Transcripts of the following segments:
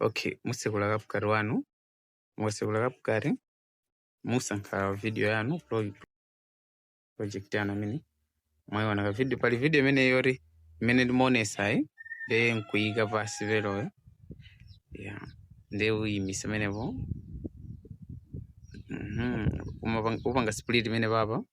Okay, musekula CapCut wanu mukasekula CapCut musankha video yanu pro- project yanu amene mwayiona ka video pali video imene yoti imene ndimaonesayi nde nkuyika pasi ver'oyo yeah. nde uyimisa pamenepo Mhm. Umapang- upanga split pamene papa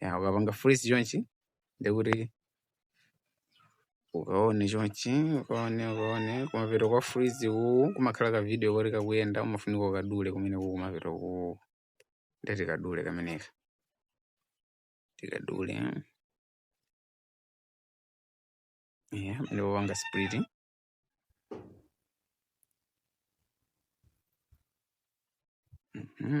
ya ukapanga freeze chonchi ndekuti ukaone chonchi ukaone ukaone kumapeto kwa freeze uku kumakhala ka video koti kakuyenda umafunika ukadule kumene kuku kumapeto ku ndiye tikadule kameneka tikadule ya ndi popanga splitting Mm-hmm.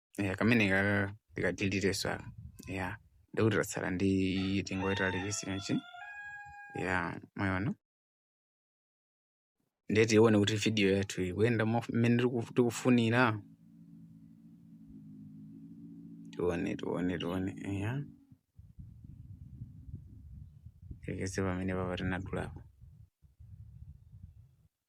ya kameneka tikadiliteso aka ya ndikuti tatsala ndi iyi tingoyitalikitsa chonchi ya mwayiona ndiye tione kuti video yathu ikuyenda mo- mmene tiku- tikufunira tione tione tione ya tikeze pamene papa tinadulapo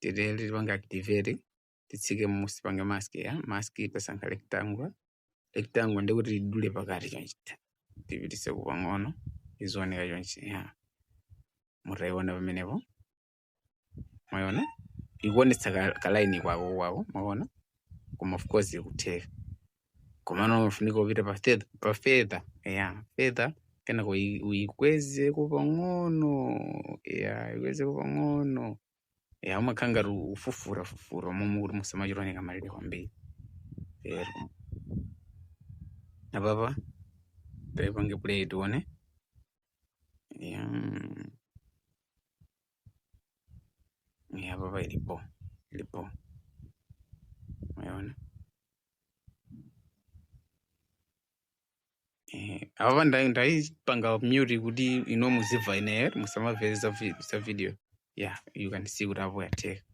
ndekuti tipanga activate titsike munsi tipange mask ya mask tasankha rectangle rectangle ndekuti tidule pakati chonchi tipititseko pang'ono izioneka chonchi ya mutayiona pamenepo mwayiona ikuonetsa ka, ka line kwako kwako mwaona koma of course ikutheka komano umafunika upite pa feather pa feather ya feather kenako uyi- uyikwezeko pang'ono ya ikwezeko pang'ono ya umakhala ngati ufufura fufura momwe kuti musamachite oneka malire kwambiri ero apapa taipange play tione ya Eeh hapa pa ilipo ilipo umeona ehe apa ndai ndaipanga mute kuti ino muziva ine musamaveresa vi- sa video yeah you can see kuti apo yateka